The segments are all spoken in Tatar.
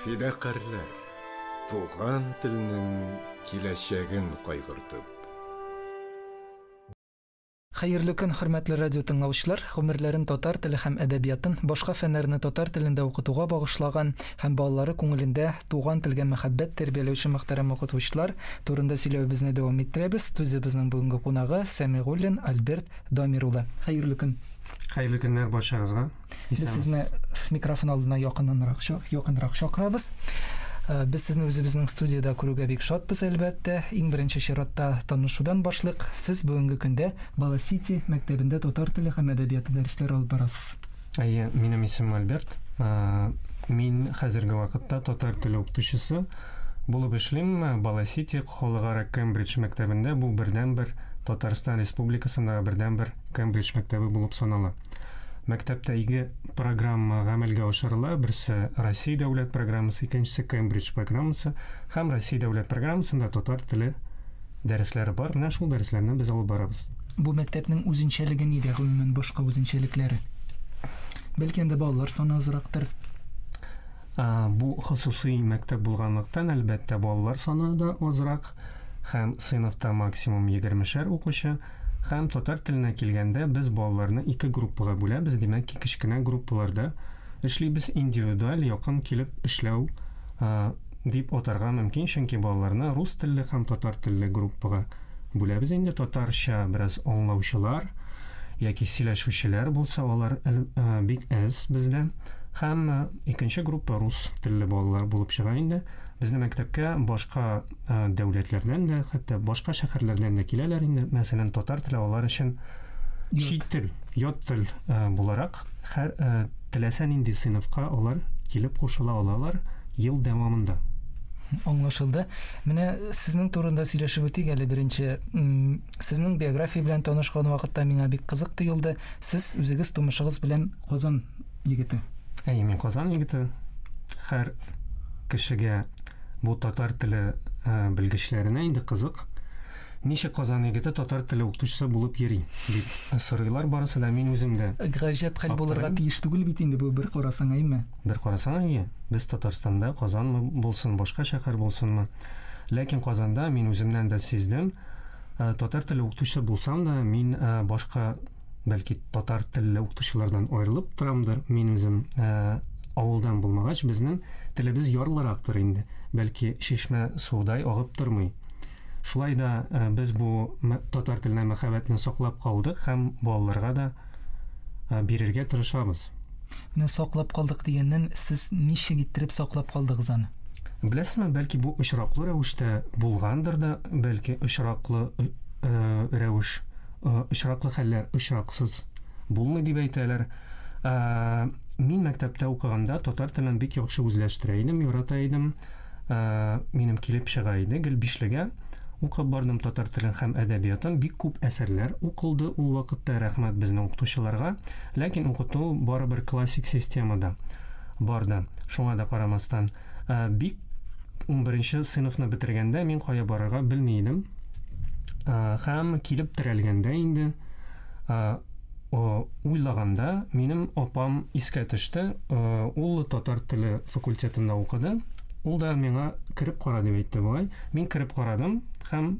Фидакарьләр, туган телнең киләчәген кайгыртып. Хәерле көн, хөрмәтле радио тыңлаучылар! Гомерләрен татар теле һәм әдәбиятын, башка фәннәрне татар телендә укытуга багышлаган һәм балалары күңелендә туган телгә мәхәббәт тәрбияләүче мөхтәрәм укытучылар турында сөйләвебезне дәвам иттерәбез. Студиябезнең бүгенге кунагы, Сәмигуллин Альберт Дамир улы. Хәерле көн! Хәерле көннәр барчагызга! Без сезне микрофон алдына якыннанрак якынрак чакырабыз. Э, без сезне үзебезнең студиядә күрүгә бик шатбыз, әлбәттә. Иң беренче чиратта танышудан башлык. Сез бүгенге көндә Бала Сити мәктәбендә татар теле һәм әдәбияты дәресләре алып барасыз. Әйе, минем исем Альберт. Э, мин хәзерге вакытта татар теле укытучысы булып эшлим. Бала Сити халыкара Кембридж мәктәбендә бу бердәнбер Татарстан Республикасындагы бердәнбер Кембридж мәктәбе булып санала. Мәктәптә ике программа гамәлгә ашырыла. Берсе Россия дәүләт программасы, икенчесе Кембридж программасы һәм Россия дәүләт программасында татар теле дәресләре бар. Менә шул дәресләрне без алып барабыз. Бу мәктәпнең үзенчәлеге нидә, гомумән башка үзенчәлекләре? Бәлки анда балалар саны азрактыр? Бу хосусый мәктәп булганлыктан, әлбәттә, балалар саны да азрак һәм сыйныфта максимум 20 шәр укучы. Һәм татар теленә килгәндә, без балаларны ике группага бүләбез, димәк ки, кечкенә группаларда эшлибез, индивидуаль якын килеп эшләү дип атарга мөмкин, чөнки балаларны рус телле һәм татар телле группага бүләбез инде, татарча бераз аңлаучылар яки сөйләшүчеләр булса, алар бик әз бездә. Һәм икенче группа рус телле балалар булып чыга инде. Безнең мәктәпкә башка Э, дәүләтләрдән дә, хәтта башка шәһәрләрдән дә киләләр инде. Мәсәлән, татар теле алар өчен чит тел, ят тел э, буларак һәр э, теләсә нинди сыйныфка алар килеп кушыла алалар ел дәвамында. Аңлашылды. Менә сезнең турында сөйләшеп үтик әле беренче. Сезнең биография белән танышкан вакытта миңа бик кызык тоелды. Сез үзегез тумышыгыз белән Казан егете. Әй, мин Казан егете. Хәр кешегә бу татар теле э, белгечләренә инде кызык. Ничек Казан егете татар теле укытучысы булып йөри дип сорыйлар барысы да мин үзем дә. Гаҗәп хәл булырга тиеш түгел бит инде бу бер карасаң, әйме? Бер карасаң, әйе. Без Татарстанда Казанмы булсын, башка шәһәр булсынмы. Ләкин Казанда мин үземнән дә сиздем, э, татар теле укытучысы булсам да, мин э, башка Бәлки татар телле укытучылардан аерылып торамдыр. Мин үзем ә, авылдан булмагач, безнең телебез ярлырактыр инде. Бәлки шешмә судай агып тормый. Шулай да ә, без бу татар теленә мәхәббәтне саклап калдык һәм балаларга да ә, бирергә тырышабыз. Менә саклап калдык дигәннән, сез ничек иттереп саклап калдыгыз аны? Беләсезме, бәлки бу очраклы рәвештә булгандыр да, бәлки очраклы э, рәвеш Очраклы хәлләр очраксыз булмый дип әйтәләр. Ә, мин мәктәптә укыганда татар телен бик яхшы үзләштерә идем, ярата идем. Ә, минем килеп чыга иде гел бишлегә. Укып бардым татар телен һәм әдәбиятын. Бик күп әсәрләр укылды ул вакытта, рәхмәт безнең укытучыларга. Ләкин укыту барыбер классик системада барды, шуңа да карамастан. Ә, бик унберенче сыйныфны бетергәндә мин кая барырга белми идем. Ә, һәм килеп терәлгәндә инде ә, уйлаганда минем апам искә төште. Ә, ул татар теле факультетында укыды. Ул да миңа кереп кара дип әйтте бугай. Мин кереп карадым һәм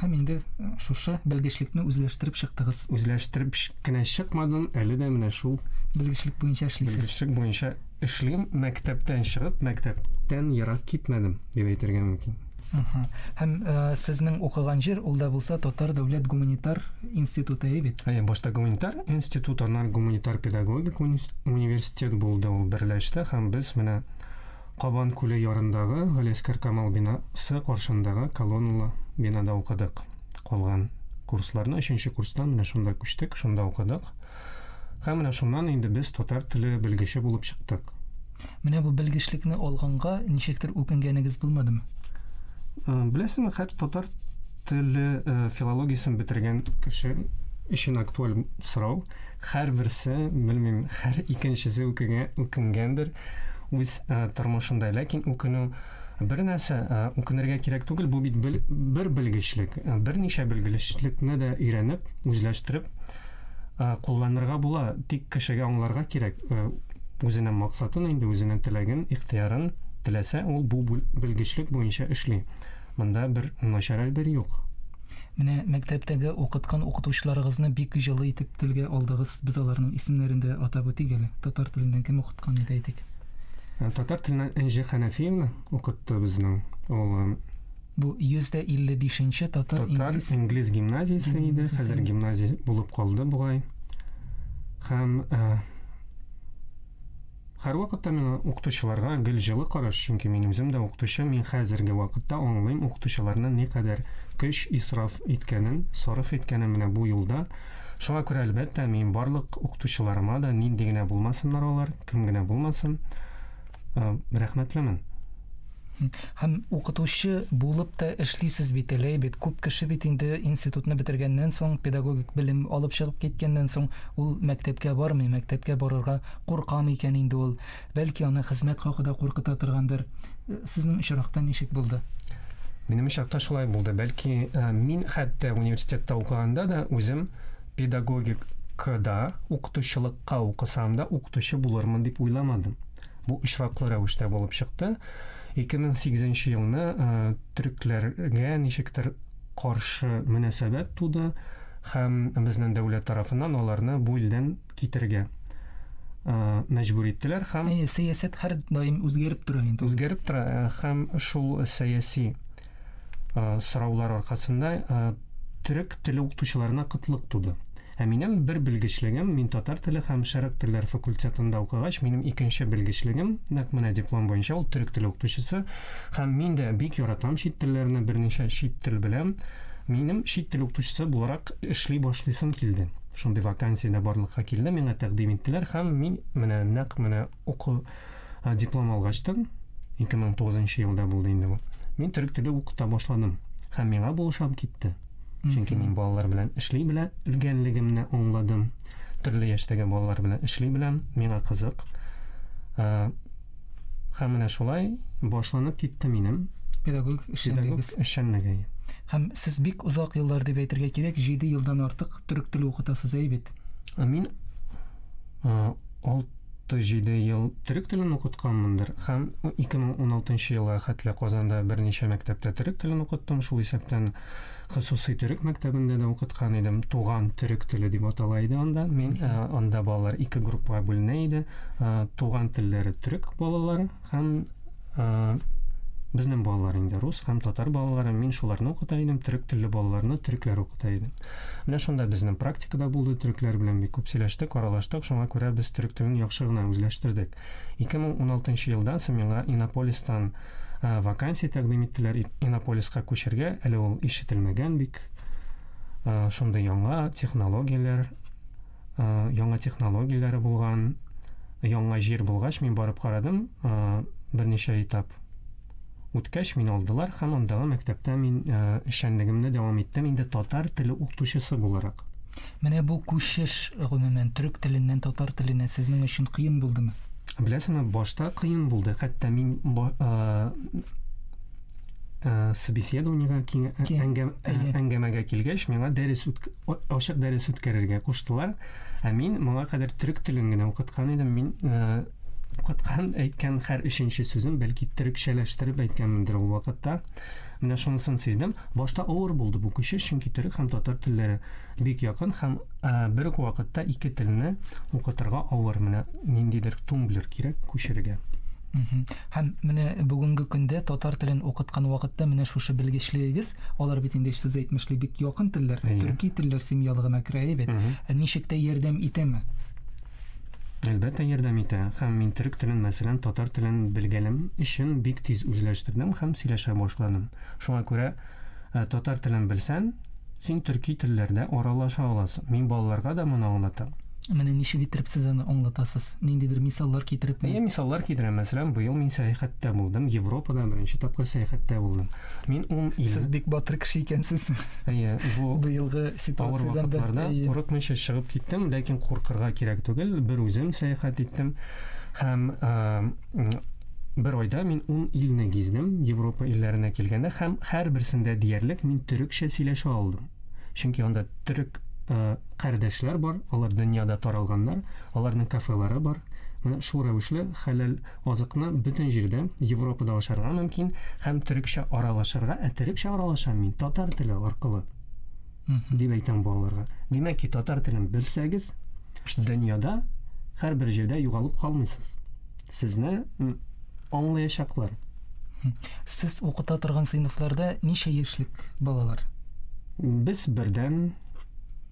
Һәм инде э, шушы белгечлекне үзләштереп чыктыгыз. Үзләштереп кенә чыкмадым, әле дә менә шул белгечлек буенча эшлисез. Белгечлек буенча эшлим, мәктәптән чыгып, мәктәптән ерак китмәдем, дип әйтергә мөмкин. Һәм э, сезнең укыган җир ул да булса Татар дәүләт гуманитар институты бит. Әйе, башта гуманитар институт, аннан гуманитар педагогик университет булды ул берләште һәм без менә Кабан күле ярындагы Галиәскәр Камал бинасы каршындагы колонналы бинада укыдык. Калган курсларны өченче курстан менә шунда күчтек, шунда укыдык. Һәм менә шуннан инде без татар теле белгече булып чыктык. Менә бу белгечлекне алганга ничектер үкенгәнегез булмадымы? Беләсеңме, хәтта татар теле филологиясен бетергән кеше өчен актуаль сорау. һәрберсе, белмим, һәр икенчесе үкенгәндер үз э, тормышында. Ләкин үкенү бер нәрсә э, үкенергә кирәк түгел, бу бит бер белгечлек, э, берничә белгечлекне дә өйрәнеп, үзләштереп кулланырга була, тик кешегә аңларга кирәк үзенең максатын инде, үзенең теләген, ихтыярын теләсә, ул бу белгечлек буенча эшли. Монда бер начар әйбер юк. Менә мәктәптәге укыткан укытучыларыгызны бик җылы итеп телгә алдыгыз. Без аларның исемнәрен дә атап үтик әле. Татар теленнән кем укыткан иде әйтик? Ә, Татар теленнән Энҗе Хәнәфиевна укытты безнең. Ул э, Бу 155 нче татар татар инглиз инглиз гимназиясе иде, Гимназиясе. хәзер гимназия булып калды бугай. Һәм э, Һәрвакытта миңа укытучыларга гел җылы караш, чөнки мин үзем дә укытучы, мин хәзерге вакытта аңлыйм укытучыларны никадәр көч исраф иткәнен, сарыф иткәнен менә бу юлда. Шуңа күрә, әлбәттә, мин барлык укытучыларыма да, нинди генә булмасыннар алар, кем генә булмасын, рәхмәтлемен. Һәм укытучы булып та эшлисез бит әле, әйбәт. Күп кеше бит инде институтны бетергәннән соң, педагогик белем алып чыгып киткәннән соң, ул мәктәпкә бармый, мәктәпкә барырга курка микән инде ул? Бәлки, аны хезмәт хакы да куркыта торгандыр. Сезнең очракта ничек булды? Минем очракта шулай булды. Бәлки, мин хәтта университетта укыганда да үзем педагогик кыда укытучылыкка укысам да укытучы булырмын дип уйламадым. Бу очраклы рәвештә булып чыкты. 2008 елны э, төрекләргә ничектер каршы мөнәсәбәт туды һәм безнең дәүләт тарафыннан аларны бу илдән китергә э, мәҗбүр иттеләр һәм сәясәт һәр даим үзгәреп тора инде. Үзгәреп тора э, һәм шул сәяси э, сораулар аркасында э, төрек теле укытучыларына кытлык туды. Ә минем бер белгечлегем, мин татар теле һәм шәрык телләр факультетында укыгач, минем икенче белгечлегем, нәкъ менә диплом буенча ул төрек теле укытучысы, һәм мин дә бик яратам чит телләрне, берничә чит тел беләм. Минем чит тел укытучысы буларак эшли башлыйсым килде. Шундый вакансия дә барлыкка килде, миңа тәкъдим иттеләр һәм мин менә нәкъ менә уку Ә диплом алгач та, 2009 елда булды инде бу. Мин төрек теле укыта башладым һәм миңа бу ошап китте. Чөнки мин балалар белән эшли белә, белгәнлегемне аңладым. Төрле яшьтәге балалар белән эшли беләм, миңа кызык. Ә, һәм менә шулай башланып китте минем педагог эшчәнлегегез. Эшчәнлеге. Һәм сез бик озак еллар дип әйтергә кирәк, 7 елдан артык төрек теле укытасыз, әйбит. Мин 6 37 ел төрек телен укытканмындыр һәм 2016 елга хәтле Казанда берничә мәктәптә төрек телен укыттым. Шул исәптән хосусый төрек мәктәбендә дә укыткан идем. Туган төрек теле дип атала иде анда. Мин э, анда балалар ике группага бүленә иде. Э, туган телләре төрек балалары, Һәм э, безнең балалар инде рус һәм татар балалары, мин шуларны укыта идем, төрек телле балаларны төрекләр укыта идем. Менә шунда безнең практикада булды, төрекләр белән бик күп сөйләштек, аралаштык, шуңа күрә без төрек телен яхшы гына үзләштердек. 2016 елда Самиңа Иннополистан ә, вакансия тәкъдим иттеләр Иннополиска күчергә, әле ул ишетелмәгән бик. Ә, шундый яңа технологияләр, Э, яңа технологияләре булган яңа җир булгач мин барып карадым э, берничә этап үткәч мин алдылар һәм андагы мәктәптә мин э, эшчәнлегемне дәвам иттем инде татар теле укытучысы буларак менә бу күчеш гомумән төрек теленнән татар теленә сезнең өчен кыен булдымы беләсеңме башта кыен булды хәтта мин Э, собеседованиега э, әңгәмәгә килгәч миңа дәрес ачык дәрес үткәрергә куштылар ә мин моңа кадәр төрек телен генә укыткан идем мин э, укыткан әйткән һәр өченче сүзен бәлки төрекчәләштереп әйткәнмендер ул вакытта менә шунысын сиздем башта авыр булды бу кеше чөнки төрек һәм татар телләре бик якын һәм бер үк вакытта ике телне укытырга авыр менә ниндидер тумблер кирәк күчерергә Һәм менә бүгенге көндә татар телен укыткан вакытта менә шушы белгечлегегез, алар бит инде сез әйтмешли бик якын телләр, төрки телләр семьялыгына керә бит. Ә ничек тә ярдәм итәме? Әлбәттә ярдәм итә. Һәм мин төрек телен, мәсәлән, татар телен белгәнем өчен бик тиз үзләштердем һәм сөйләшә башладым. Шуңа күрә Ә татар телен белсән, син төрки телләрдә аралаша аласың. Мин балаларга да моны аңлатам. Менә ничек иттереп сез аны аңлатасыз? Ниндидер мисаллар китерепме? Әйе, мисаллар китерәм. Мәсәлән, быел мин сәяхәттә булдым. Европада беренче тапкыр сәяхәттә булдым. Мин ун ил. Сез бик батыр кеше икәнсез. Әйе, бу быелгы ситуациядән дә. Авыр вакытларда курыкмыйча чыгып киттем, ләкин куркырга кирәк түгел. Бер үзем сәяхәт иттем һәм Бер айда мин ун илне гиздем, Европа илләренә килгәндә һәм һәрберсендә диярлек мин төрекчә сөйләшә алдым. Чөнки анда төрек э, кардәшләр бар, алар дөньяда таралганнар, аларның кафелары бар. Менә шул рәвешле хәләл азыкны бөтен җирдә Европада ашарга мөмкин һәм төрекчә аралашырга, ә төрекчә аралашам мин татар теле аркылы. дип әйтәм балаларга. Димәк ки, татар телен белсәгез, дөньяда һәрбер җирдә югалып калмыйсыз. Сезне аңлаячаклар. Сез укыта торган сыйныфларда ничә яшьлек балалар? Без бердән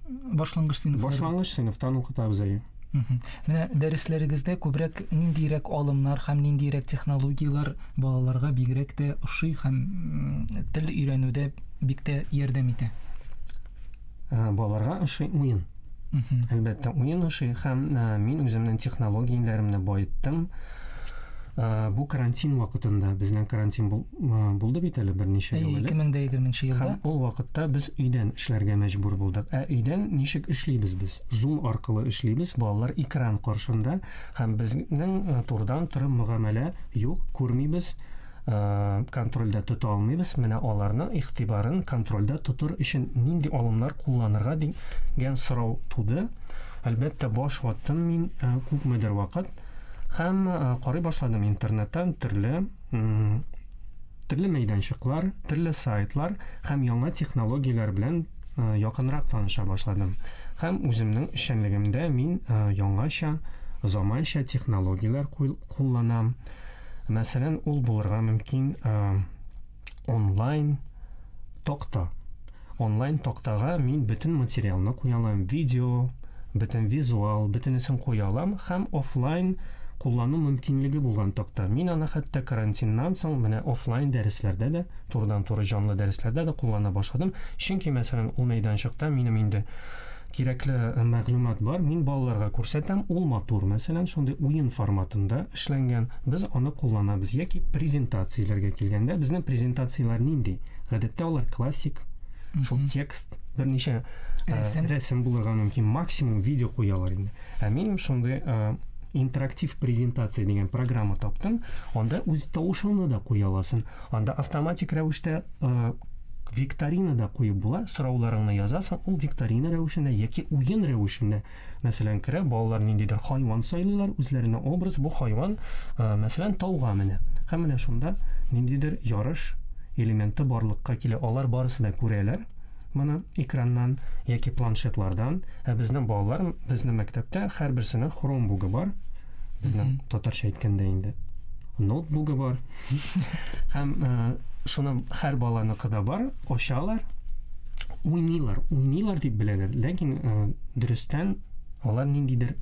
башлангыч сыйныф башлангыч сыйныфтан укытабыз әйе. Менә дәресләрегездә күбрәк ниндирәк алымнар һәм ниндирәк технологияләр балаларга бигрәк тә ошый һәм тел өйрәнүдә бик тә ярдәм итә? Ә, балаларга ошый уен. Әлбәттә, уен ошый һәм ә, мин үземнең технологияләремне баеттым. Э, бу карантин вакытында безнең карантин э, булды бит әле берничә ел элек 2020 елда һәм ул вакытта без өйдән эшләргә мәҗбүр булдык ә өйдән ничек эшлибез без зум аркылы эшлибез балалар экран каршында һәм безнең э, турдан туры мөгамәлә юк күрмибез контрольдә тота алмыйбыз менә аларның игътибарын контрольдә тотыр өчен нинди алымнар кулланырга дигән сорау туды әлбәттә баш ваттым мин күпмедер вакыт Һәм карый башладым интернеттан төрле төрле мәйданчыклар, төрле сайтлар һәм яңа технологияләр белән якынрак таныша башладым. Һәм үземнең эшчәнлегемдә мин яңача, заманча технологияләр кулланам. Мәсәлән, ул булырга мөмкин онлайн токта. Онлайн токтага мин бөтен материалны куя алам, видео, бөтен визуал, бөтенесен куя алам һәм офлайн куллану мөмкинлеге булган токта. Мин аны хәтта карантиннан соң менә офлайн дәресләрдә дә, турыдан-туры җанлы дәресләрдә дә куллана башладым. Чөнки, мәсәлән, ул мәйданчыкта минем инде Кирәкле мәгълүмат бар, мин балаларга күрсәтәм, ул матур, мәсәлән, шундый уен форматында эшләнгән, без аны кулланабыз, яки презентацияләргә килгәндә, безнең презентацияләр нинди? Гадәттә алар классик, шул текст, берничә рәсем, рәсем булырга мөмкин, максимум видео куялар инде. Ә мин шундый интерактив презентация дигән программа таптым, анда үз тавышыңны да куя аласың. Анда автоматик рәвештә викторина да куеп була, сорауларыңны язасың, ул викторина рәвешендә яки уен рәвешендә, мәсәлән, керә, балалар ниндидер хайван сайлыйлар, үзләренә образ, бу хайван, мәсәлән, тауга менә. Һәм менә шунда ниндидер ярыш элементы барлыкка килә. Алар барысы да күрәләр, моны экраннан яки планшетлардан. Ә безнең балалар, безнең мәктәптә һәрберсенең хромбугы бар. Безнең татарча әйткәндә инде ноутбугы бар. Һәм э, шуның һәр баланыкы да бар, очалар, уйныйлар, уйныйлар дип беләләр, ләкин э, дөрестән алар ниндидер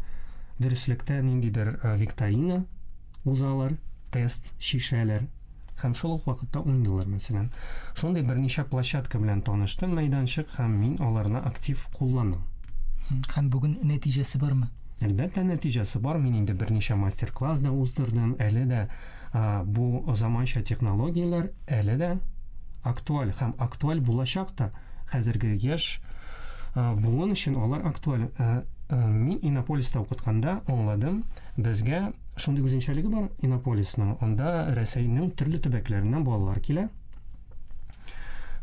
дөреслектә ниндидер э, викторина узалар, тест шишәләр һәм шул ук вакытта уйныйлар мәсәлән. Шундый берничә площадка белән таныштым, мәйданчык һәм мин аларны актив кулланам. Һәм бүген нәтиҗәсе бармы? Әлбәттә, нәтиҗәсе бар. Мин инде берничә мастер-класс да уздырдым, әле дә Бу заманча технологияләр әле дә актуаль һәм актуаль булачак та. Хәзерге яшь буын өчен алар актуаль. Мин Иннополиста укытканда аңладым, безгә шундый үзенчәлеге бар Иннополисның. Анда Рәсәйнең төрле төбәкләреннән балалар килә.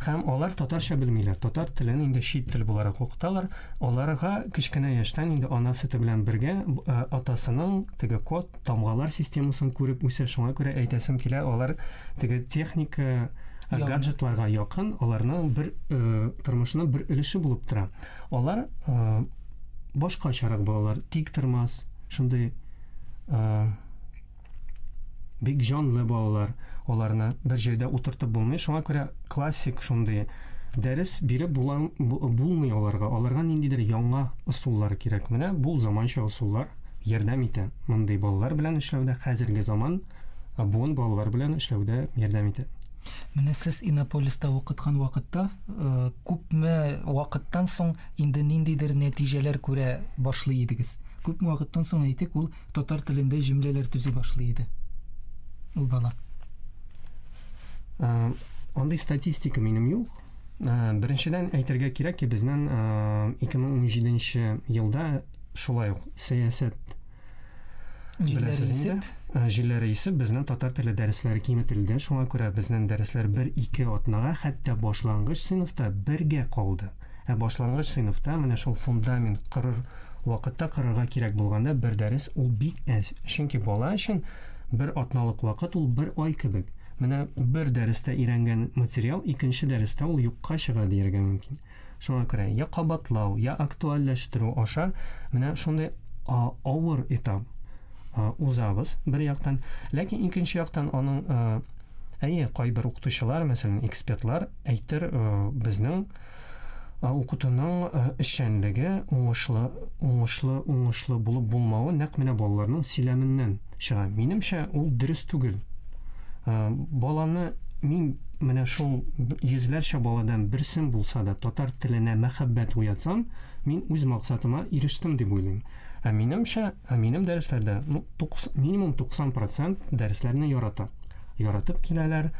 Һәм алар татарча белмиләр. Татар телен инде чит тел буларак укыталар. Аларга кечкенә яшьтән инде ана сөте белән бергә э, атасының теге код, тамгалар системасын күреп үсә. Шуңа күрә әйтәсем килә, алар теге техника э, Якын. гаджетларга якын, аларның бер э, тормышының бер өлеше булып тора. Алар э, башкачарак балалар, тик тормас, шундый э, Бик җанлы балалар. Аларны бер җирдә утыртып булмый. Шуңа күрә классик шундый дәрес биреп булмый аларга. Аларга ниндидер яңа ысуллар кирәк. Менә бу заманча ысуллар ярдәм итә. Мондый балалар белән эшләүдә хәзерге заман буын балалар белән эшләүдә ярдәм итә. Менә сез Иннополиста укыткан вакытта э, күпме вакыттан соң инде ниндидер нәтиҗәләр күрә башлый идегез? Күпме вакыттан соң әйтик, ул татар телендә җөмләләр төзи башлый иде. Ул бала. Э, андый статистика минем юк. Э, беренчедән әйтергә кирәк ки, безнең 2017 э, елда шулай ук сәясәт җилләре исеп, җилләре исеп, безнең татар теле дәресләре киметелде. Шуңа күрә безнең дәресләр 1-2 атнага, хәтта башлангыч сыйныфта бергә калды. Ә башлангыч сыйныфта менә шул фундамент кырыр вакытта кырырга кирәк булганда бер дәрес ул бик әз. Чөнки бала өчен бер атналык вакыт ул бер ай кебек. Менә бер дәрестә өйрәнгән материал икенче дәрестә ул юкка чыга дияргә мөмкин. Шуңа күрә я кабатлау, я актуальләштерү аша менә шундый авыр этап узабыз бер яктан. Ләкин икенче яктан аның әйе, кайбер укытучылар, мәсәлән, экспертлар Әйтер, безнең укытуның эшчәнлеге, уңышлы, уңышлы, уңышлы булып булмавы нәкъ менә балаларның сөйләменнән чыга. Минемчә, ул дөрес түгел. Баланы мин менә шул йөзләрчә баладан берсен булса да татар теленә мәхәббәт уятсам, мин үз максатыма ирештем дип уйлыйм. Ә минемчә, ә минем дәресләрдә ну, 90, минимум 90% дәресләрне ярата. яратып киләләр,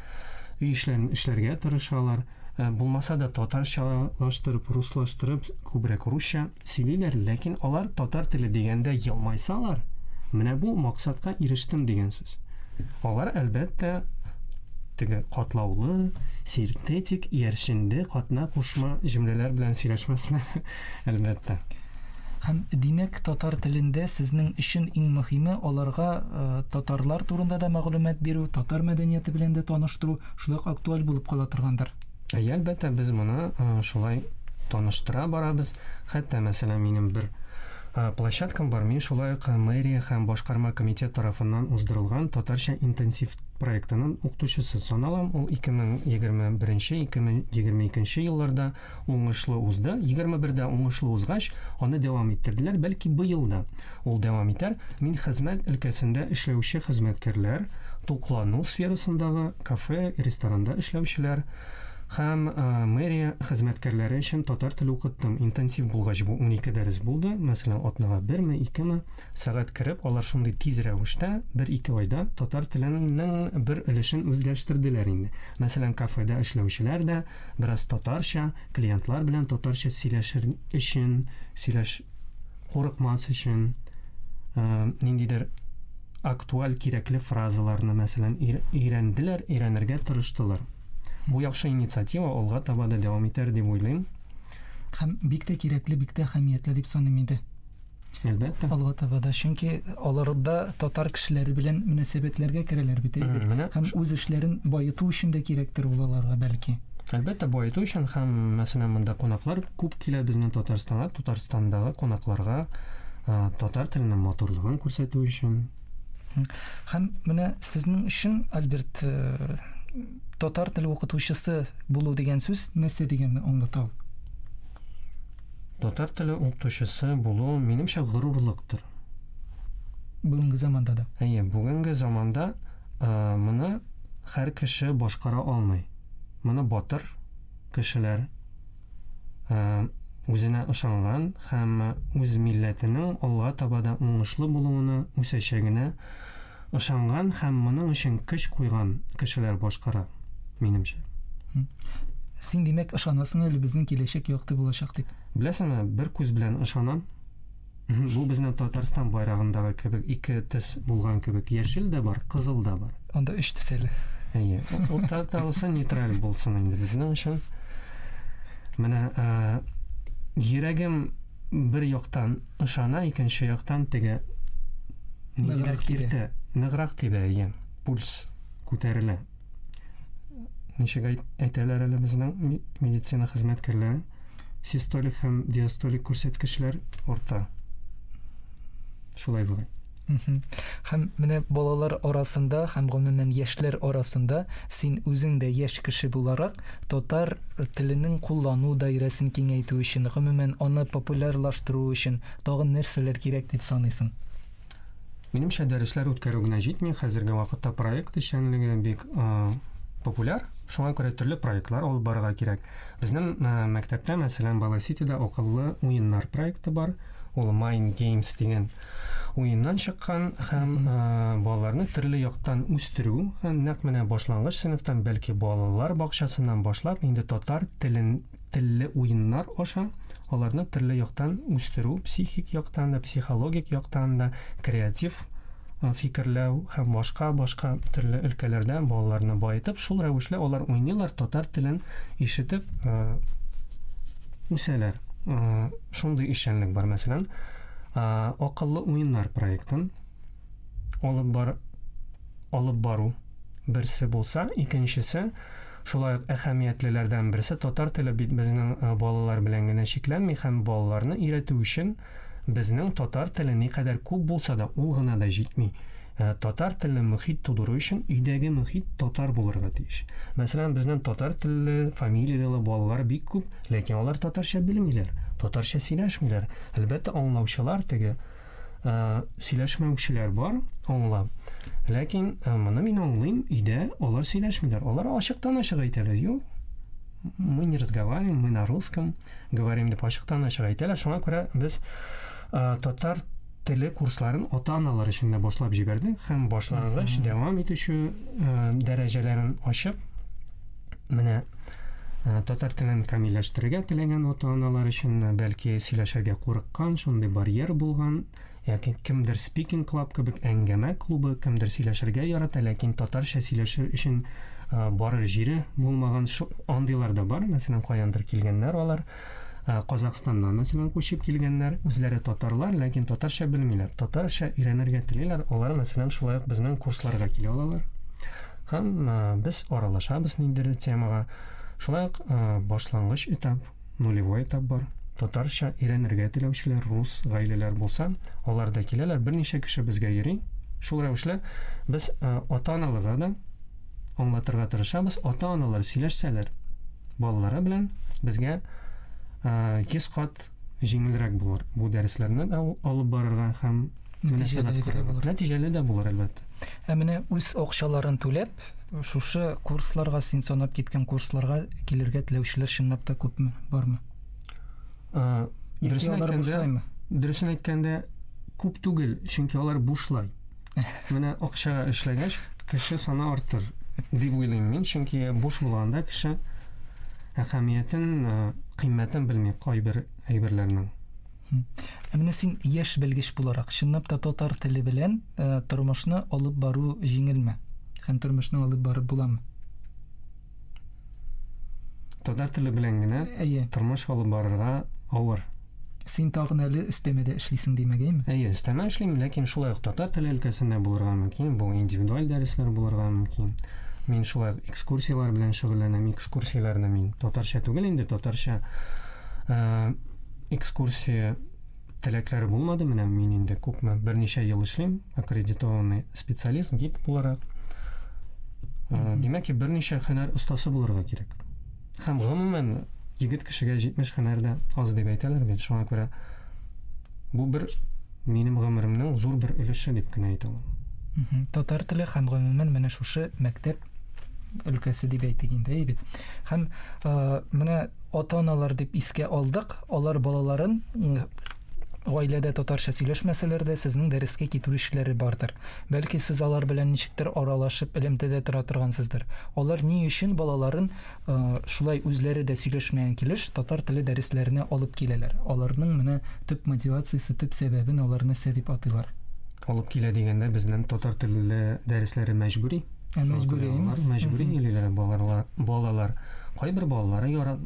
өй эшләрен эшләргә тырышалар. Э, булмаса да татарчалаштырып, руслаштырып, күбрәк русча сөйлиләр, ләкин алар татар теле дигәндә елмайсалар, менә бу максатка ирештем дигән сүз. Алар, әлбәттә, теге катлаулы, синтетик, иярченле, катна кушма җөмләләр белән сөйләшмәсләр, әлбәттә. Һәм, димәк, татар телендә сезнең өчен иң мөһиме аларга татарлар турында да мәгълүмат бирү, татар мәдәнияте белән дә таныштыру, шулай ук актуаль булып кала торгандыр. Әйе, әлбәттә, без моны шулай таныштыра барабыз. Хәтта, мәсәлән, минем бер площадкам бар. Мин шулай ук мэрия һәм башкарма комитет тарафыннан уздырылган татарча интенсив проектының укытучысы саналам. Ул 2021-2022 елларда Уңышлы узды, егерме бердә уңышлы узгач, аны дәвам иттерделәр, бәлки быел да ул дәвам итәр, мин хезмәт өлкәсендә эшләүче хезмәткәрләр, туклану сферасындагы, кафе, ресторанда эшләүчеләр һәм мэрия хезмәткәрләре өчен татар теле укыттым, интенсив булгач бу унике дәрес булды, мәсәлән, атнага берме, икеме сәгать кереп, алар шундый тиз рәвештә, бер-ике айда татар теленең бер өлешен үзләштерделәр инде. Мәсәлән, кафеда эшләүчеләр дә, Бераз татарча, клиентлар белән татарча сөйләшер өчен, сөйләш курыкмас өчен, э, ниндидер актуаль кирәкле фразаларны, мәсәлән, өйрәнделәр, өйрәнергә тырыштылар. Бу яхшы инициатива алга таба да дәвам итәр дип уйлыйм. Һәм бик тә кирәкле, бик тә әһәмиятле дип саныйм инде. Әлбәттә. Алга таба да, чөнки алар да татар кешеләре белән мөнәсәбәтләргә керәләр бит, әйбәт. Һәм үз эшләрен баету өчен дә кирәктер ул аларга, бәлки. Әлбәттә, баету өчен һәм, мәсәлән, монда кунаклар күп килә безнең Татарстанга, Татарстандагы кунакларга татар теленең матурлыгын күрсәтү өчен. Һәм менә сезнең өчен, Альберт, э, татар теле укытучысы булу дигән сүз нәрсә дигәнне аңлата ул? Татар теле укытучысы булу, минемчә, горурлыктыр. Бүгенге заманда да. Әйе, бүгенге заманда моны һәр кеше башкара алмый. Моны батыр кешеләр, үзенә ышанган һәм үз милләтенең алга таба да уңышлы булуына, үсәчәгенә Ышанган һәм моның өчен көч куйган кешеләр башкара, минемчә. Син, димәк, ышанасың әле безнең киләчәк якты булачак дип? Беләсеңме, бер күз белән ышанам. Бу безнең Татарстан байрагындагы кебек ике төс булган кебек, яшел дә бар, кызыл да бар. Анда өч төс әле. Әйе. Уртадагысы нейтраль булсын инде безнең өчен. Менә йөрәгем бер яктан ышана, икенче яктан теге ниндидер киртә, ныграк тибә, әйе, пульс күтәрелә. Ничек әйтәләр әле безнең медицина хезмәткәрләре? Систолик һәм диастолик күрсәткечләр арта. Шулай була. Һәм менә балалар арасында һәм гомумән яшьләр арасында син үзең дә яшь кеше буларак татар теленең куллану даирәсен киңәйтү өчен, гомумән аны популярлаштыру өчен тагын нәрсәләр кирәк дип саныйсың? Минемчә, дәресләр үткәрү генә җитми, хәзерге вакытта проект эшчәнлеге бик популяр, шуңа күрә төрле проектлар алып барырга кирәк. Безнең мәктәптә, мәсәлән, Баласитида акыллы уеннар проекты бар, ул Mind Games дигән уеннан чыккан һәм э, балаларны төрле яктан үстерү һәм нәкъ менә башлангыч сыйныфтан бәлки балалар бакчасыннан башлап инде татар телен телле уеннар аша аларны төрле яктан үстерү психик яктан да психологик яктан да креатив э, фикерләү һәм башка башка төрле өлкәләрдә балаларны баетып шул рәвешле алар уйныйлар татар телен ишетеп э, үсәләр Э, Шундый эшчәнлек бар, мәсәлән, акыллы уеннар проектын алып бар алып бару берсе булса, икенчесе шулай ук әһәмиятлеләрдән берсе татар теле бит безнең э, балалар белән генә чикләнми һәм балаларны өйрәтү өчен безнең татар теле никадәр күп булса да ул гына да җитми. Ә татар телле мөхит тудыру өчен өйдәге мөхит татар булырга тиеш. Мәсәлән, безнең татар телле, фамилияле балалар бик күп, ләкин алар татарча белмиләр, татарча сөйләшмиләр. Әлбәттә, аңлаучылар теге э, сөйләшмәүчеләр бар, аңла. Ләкин э, моны мин аңлыйм, өйдә алар сөйләшмиләр. Алар ачыктан-ачык әйтәләр, юк, мы не разговариваем, мы на русском говорим, дип ачыктан-ачык әйтәләр. Шуңа күрә без э, татар Теле курсларын ата-аналар өчен дә башлап җибәрдек һәм башлангыч дәвам итүче э, дәрәҗәләрен ачып, менә э, татар телен камилләштерергә теләгән ата-аналар өчен, э, бәлки сөйләшергә курыккан, шундый барьер булган, яки кемдер спикинг клаб кебек әңгәмә клубы, кемдер сөйләшергә ярата, ләкин татарча сөйләшер өчен барыр җире булмаган, андыйлар да бар, мәсәлән, каяндыр килгәннәр алар. Ә Казахстаннан, мәсәлән, күчеп килгәннәр, үзләре татарлар, ләкин татарча белмиләр. Татарча өйрәнергә телиләр, алар, мәсәлән, шулай ук безнең курсларга килә алалар. Һәм без аралашабыз ниндидер темага. Шулай ук башлангыч этап, нулевой этап бар. Татарча өйрәнергә теләүчеләр, рус гаиләләр булса, алар да киләләр, берничә кеше безгә йөри. Шул рәвешле без ата-аналарга да Аңлатырга тырышабыз, ата-аналар сөйләшсәләр, балалары белән безгә 100 кат җиңелрәк булыр. Бу дәресләрне алып барырга һәм мөнәсәбәт булыр. Нәтиҗәле дә булыр, әлбәттә. Ә менә үз акчаларын түләп, шушы курсларга, син санап киткән курсларга килергә теләүчеләр чынлап та күпме, бармы? Дөресен әйткәндә, дөресен әйткәндә күп түгел, чөнки алар бушлай. Менә акчага эшләгәч, кеше саны артыр дип уйлыйм мин, чөнки буш булганда кеше әһәмиятен, э, кыйммәтен белми кайбер әйберләрнең. Ә менә син яшь белгеч буларак, чынлап та татар теле белән э, тормышны алып бару җиңелме? Һәм тормышны алып барып буламы? Татар теле белән генә Әйе. тормыш алып барырга авыр. Син тагын әле өстәмә дә эшлисең димәгәйме? Әйе, өстәмә эшлим, ләкин шулай ук татар теле өлкәсендә булырга мөмкин, бу индивидуаль дәресләр булырга мөмкин. Мин шулай ук экскурсияләр белән шөгыльләнәм, экскурсияләрне мин татарча түгел инде, татарча экскурсия Теләкләре булмады, менә мин инде күпме, берничә ел эшлим, аккредитованный специалист, гид буларак. Э, димәк, берничә һөнәр остасы булырга кирәк. Һәм гомумән егет кешегә 70 һөнәр дә аз дип әйтәләр бит. Шуңа күрә бу бер минем гомеремнең зур бер өлеше дип кенә әйтә алам. Татар теле һәм гомумән менә шушы мәктәп өлкәсе дип әйтик инде әй бит һәм ә, менә ата аналар дип искә алдык алар балаларын гаиләдә татарча сөйләшмәсәләр дә сезнең дәрескә китерүчеләре бардыр бәлки сез алар белән ничектер аралашып элемтәдә тора торгансыздыр алар ни өчен балаларын Шулай үзләре дә сөйләшмәгән килеш, татар теле дәресләренә алып киләләр. Аларның менә төп мотивациясе, төп сәбәбен аларны сә дип атыйлар. Алып килә дигәндә, безнең татар теле дәресләре мәҗбүри. Ә мәҗбүри. Мәҗбүри киләләр балалар. Кайбер балалары ярат,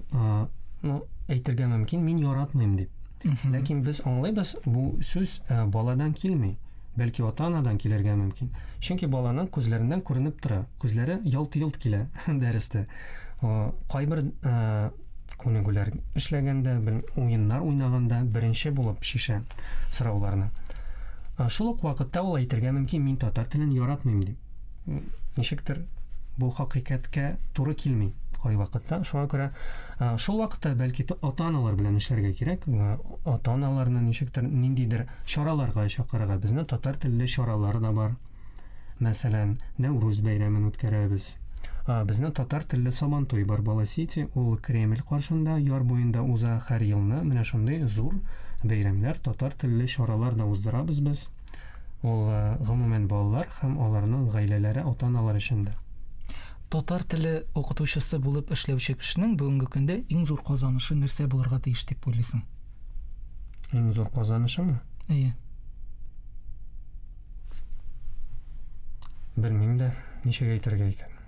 ну, әйтергә мөмкин, мин яратмыйм дип. Ләкин без аңлыйбыз, бу сүз баладан килми. Бәлки ата-анадан килергә мөмкин. Чөнки баланың күзләреннән күренеп тора. Күзләре ялт-йолт килә дәрестә. Кайбер күнегүләр эшләгәндә, уеннар уйнаганда беренче булып шишә сорауларны. Шул ук вакытта ул әйтергә мөмкин, мин татар телен яратмыйм дип. ничектер бу хакыйкатькә туры килми кайвакытта. Шуңа күрә шул вакытта бәлки ата-аналар белән эшләргә кирәк. Ата-аналарны ничектер ниндидер чараларга чакырырга. Безне татар телле чаралар да бар. Мәсәлән, Нәүрүз бәйрәмен үткәрәбез. Безне татар телле Сабан туй бар Бала Сити, ул Кремль каршында, яр буенда уза һәр елны. Менә шундый зур бәйрәмнәр, татар телле чаралар да уздырабыз без. Ул, гомумән, балалар һәм аларның гаиләләре, ата-аналар өчен дә. Татар теле укытучысы булып эшләүче кешенең бүгенге көндә иң зур казанышы нәрсә булырга тиеш дип уйлыйсың? Иң зур казанышымы? Әйе. Белмим дә, ничек әйтергә икән.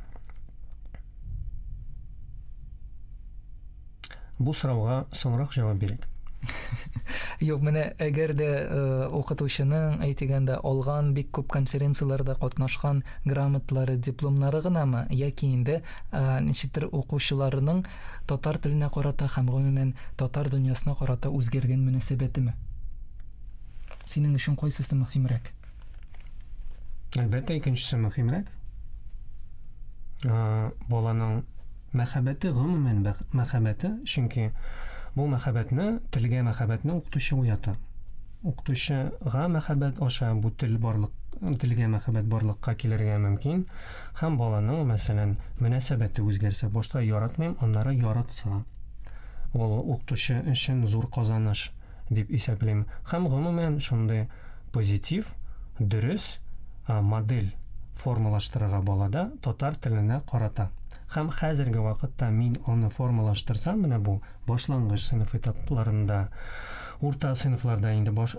Бу сорауга соңрак җавап бирик. Юк, менә әгәр дә э, укытучының әйтегәндә алган бик күп конференцияләрдә катнашкан грамотлары, дипломнары гынамы, яки инде э, ничектер укучыларының татар теленә карата һәм гомумән татар дөньясына карата үзгәргән мөнәсәбәтеме? Синең өчен кайсысы мөһимрәк? Әлбәттә, икенчесе мөһимрәк. Баланың мәхәббәте, гомумән мәхәббәте, чөнки бу мәхәббәтне, телгә мәхәббәтне укытучы уята. Укытучыга мәхәббәт аша бу тел барлык, телгә мәхәббәт барлыкка килергә мөмкин, һәм баланың, мәсәлән, мөнәсәбәте үзгәрсә, башта яратмыйм, аннары яратса, ул укытучы өчен зур казаныш. дип исәплим. Һәм, гомумән, шундый позитив, дөрес модель формалаштырырга балада татар теленә карата. Һәм хәзерге вакытта мин аны формалаштырсам, менә бу башлангыч сыйныф этапларында, урта сыйныфларда инде баш,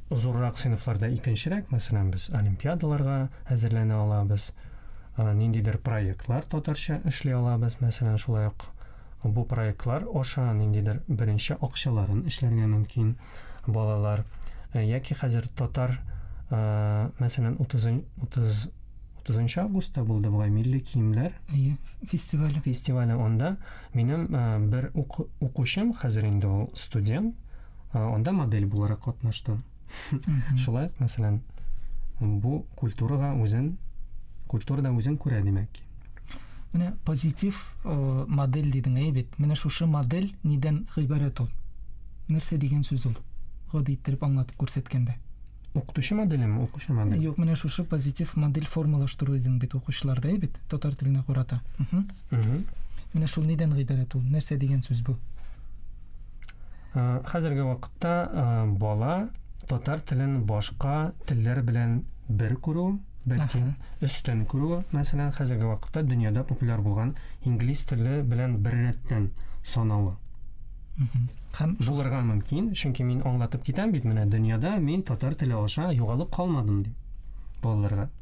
зуррак сыйныфларда икенчерәк, мәсәлән, без олимпиадаларга әзерләнә алабыз, ниндидер проектлар татарча эшли алабыз, мәсәлән, шулай ук Бу проектлар аша ниндидер беренче акчаларын эшләргә мөмкин балалар. Э, яки хәзер татар, э, мәсәлән, 30 30 августта булды бугай милли киемнәр әйе фестивале фестивале анда минем э, бер укучым хәзер инде ул студент анда модель буларак катнашты Шулай ук, мәсәлән, бу культурага үзен культурада үзен күрә димәк ки. Менә позитив э, модель дидең әй бит. Менә шушы модель нидән гыйбарәт ул? Нәрсә дигән сүз ул? Гади иттереп аңлатып күрсәткәндә. Укытучы моделеме, укучы модель? Юк, менә шушы позитив модель формалаштыру дидең бит укучыларда, әй бит, татар теленә карата. Менә шул нидән гыйбарәт ул? Нәрсә дигән сүз бу? Хәзерге вакытта бала татар телен башка телләр белән бер күрү, бәлки өстен күрү, мәсәлән, хәзерге вакытта дөньяда популяр булган инглиз теле белән бер рәттән санавы. Һәм булырга мөмкин, чөнки мин аңлатып китәм бит менә дөньяда мин татар теле аша югалып калмадым дип балаларга.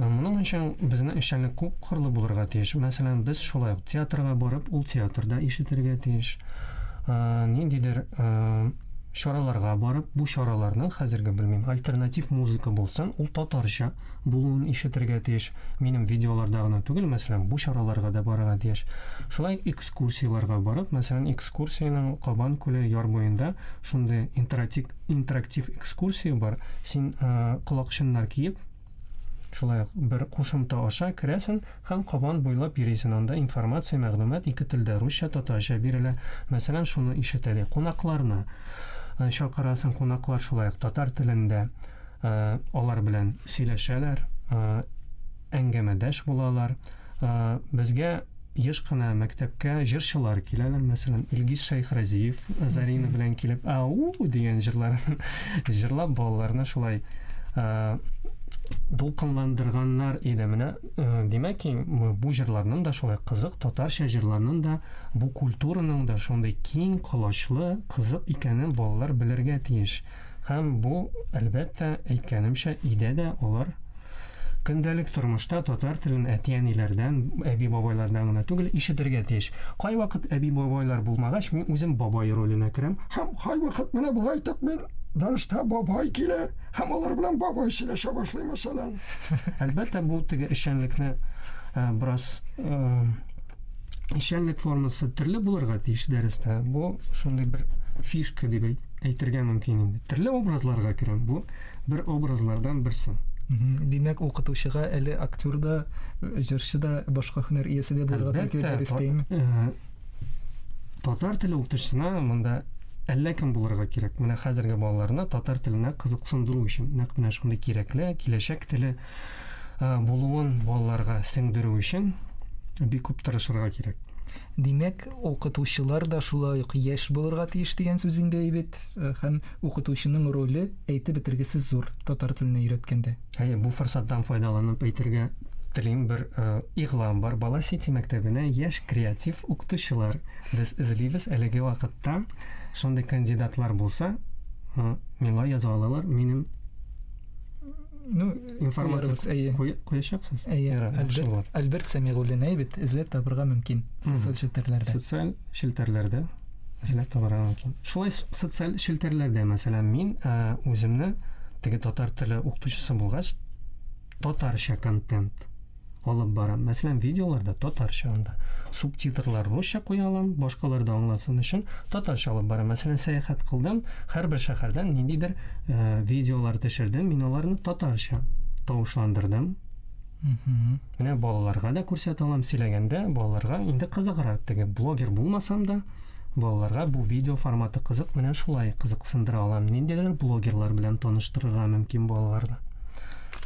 Моның өчен безнең эшчәнлек күп кырлы булырга тиеш. Мәсәлән, без шулай ук театрга барып, ул театрда ишетергә тиеш. Ниндидер чараларга барып, бу чараларның хәзерге белмим, альтернатив музыка булсын, ул татарча булуын ишетергә тиеш. Минем видеоларда гына түгел, мәсәлән, бу чараларга да барырга тиеш. Шулай экскурсияләргә барып, мәсәлән, экскурсиянең Кабан күле яр буенда шундый интерактив интерактив экскурсия бар. Син колакчыннар киеп, Шулай ук бер кушымта аша керәсен һәм кабан буйлап йөрисен. Анда информация, мәгълүмат ике телдә, русча, татарча бирелә. Мәсәлән, шуны ишет әле. Кунакларны э, чакырасың, кунаклар шулай ук татар телендә э, алар белән сөйләшәләр, э, әңгәмәдәш булалар. Э, безгә еш кына мәктәпкә җырчылар киләләр, мәсәлән, Илгиз Шәйхразиев Зарина белән килеп, ау дигән җырлар җырлап балаларны шулай э, дулкынландырганнар иде. Менә э, димәк, бу җырларның да шулай кызык, татарча җырларның да, бу культураның да шундый киң колачлы, кызык икәнен балалар белергә тиеш. Һәм бу, әлбәттә, әйткәнемчә, өйдә дә алар көндәлек тормышта татар телен әти-әниләрдән, әби-бабайлардан гына түгел, ишетергә тиеш. Кайвакыт әби-бабайлар булмагач, мин үзем бабай роленә керәм. Һәм кайвакыт менә болай итеп мин Данышта бабай килә, һәм алар белән бабай сөйләшә башлый, мәсәлән. Әлбәттә, бу теге эшчәнлекне э, бераз э, эшчәнлек формасы төрле булырга тиеш дәрестә. Бу шундый бер фишка дип әйтергә мөмкин инде. Төрле образларга керәм. Бу бер образлардан берсе. Димәк, укытучыга әле актер да, җырчы да, башка һөнәр иясе дә булырга тиеш дәрестәме? Э, татар теле укытучысына монда әллә кем булырга кирәк. Менә хәзерге балаларны татар теленә кызыксындыру өчен нәкъ менә шундый кирәкле киләчәк теле булуын балаларга сеңдерү өчен бик күп тырышырга кирәк. Димәк, укытучылар да шулай ук яшь булырга тиеш дигән сүз инде әйбит. Э, һәм укытучының роле әйтеп бетергесез зур татар теленә өйрәткәндә. Әйе, бу форсаттан файдаланып әйтергә телим бер э, игълан бар. Бала Сити мәктәбенә яшь креатив укытучылар без эзлибез. Әлеге вакытта шундый кандидатлар булса, э, миңа яза алалар. Минем ну информация әйе куячаксыз әйе альберт, альберт сәмигуллин әйе бит эзләп табырга мөмкин социаль челтәрләрдә социаль челтәрләрдә эзләп табарга мөмкин шулай социаль челтәрләрдә мәсәлән мин ә, үземне теге татар теле укытучысы булгач татарча контент алып барам. Мәсәлән, видеоларда татарча анда. Субтитрлар русча куя алам, башкалар да аңласын өчен татарча алып барам. Мәсәлән, сәяхәт кылдым, һәрбер шәһәрдән ниндидер э, видеолар төшердем, мин аларны татарча тавышландырдым. Менә балаларга да күрсәтә алам, сөйләгәндә балаларга инде кызыграк теге блогер булмасам да, Балаларга бу видео форматы кызык, менә шулай кызыксындыра алам. Ниндидер блогерлар белән таныштырырга мөмкин балаларны.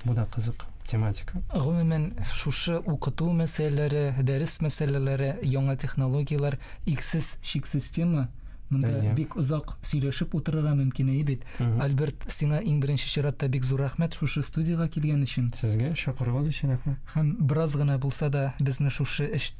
Бу да кызык тематика. Гомумән, шушы укыту мәсьәләләре, дәрес мәсьәләләре, яңа технологияләр, иксез, чиксез тема. Монда Әйе. бик озак сөйләшеп утырырга мөмкин әйе бит. Альберт, сиңа иң беренче чиратта бик зур рәхмәт шушы студиягә килгән өчен. Сезгә чакыруыгыз өчен рәхмәт. Һәм бераз гына булса да безне шушы эш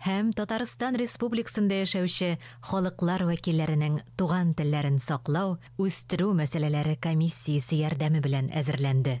һәм Татарстан Республикасында яшәүче халыклар вәкилләренең туган телләрен саклау, үстерү мәсьәләләре комиссиясе ярдәме белән әзерләнде.